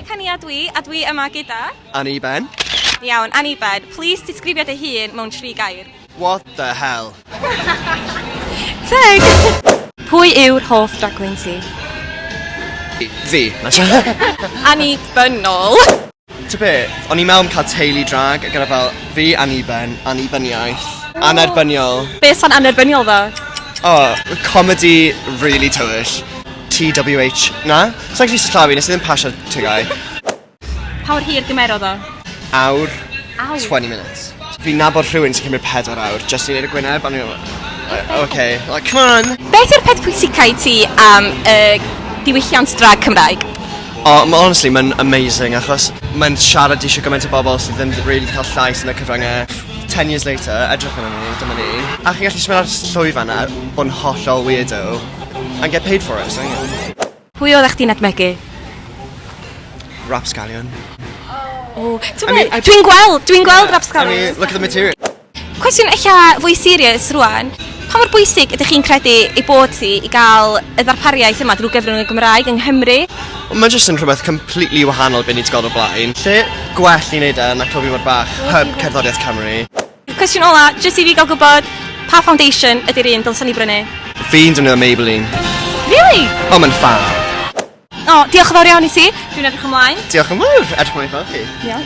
Becania dwi, a dwi yma gyda... Annie Ben. Iawn, Annie Ben, plis disgrifio dy hun mewn tri gair. What the hell? Teg! Pwy yw'r hoff drag queen ti? Fi. Annie Bynol. T'o' be'? O'n i'n me'wl am ca'l teulu drag a gyda fel fi anniben, annibyniaeth, annerbyniol. Be' sa'n annerbyniol 'da? O, comedi rili tywyll. TWH, na? Sai'n gallu sillafu, nes i ddim pasio TGAU. Pa mor hir gymerodd o? Awr. Awr? Twenty minutes. Fi'n nabod rhywun sy'n cymryd pedwar awr jyst i neud y gwyneb a o'n i fel yy oce, like c'mon! Beth yw'r peth pwysica i ti am y diwylliant drag Cymraeg? O ma' honestly ma'n amazing achos ma'n siarad i shwd gymaint o bobol sy ddim 'di rili 'di ca'l llais yn y cyfrynge. Ten years later edrych arnon ni dyma ni. A chi'n gallu symud ar y llwyfan a bod yn hollol weirdo and get paid for it so ie. Pwy oeddach chdi'n edmygu? Rapscallion. O t'mod be'? Dwi'n gweld dwi'n gweld rapscallion. I mean look at the material. Cwestiwn ella fwy serious rwan, pa mor bwysig ydych chi'n credu ei bod hi i gael y ddarpariaeth yma drwy gyfrwng y Gymraeg yng Nghymru? Ond mae jyst yn rhywbeth completely wahanol be ni wedi gweld o'r blaen. Lle gwell i wneud e na Clwb Ifor Bach, hyb cerddoriaeth Cymru. Cwestiwn ola, jyst i fi gael gwybod, pa foundation ydy'r un dylsen ni brynu? Fi'n defnyddio Maybelline. Really? Ond mae'n ffab. O, diolch yn fawr iawn i ti. Dwi'n edrych ymlaen. Diolch yn fawr, edrych ymlaen i gweld chi. Diolch.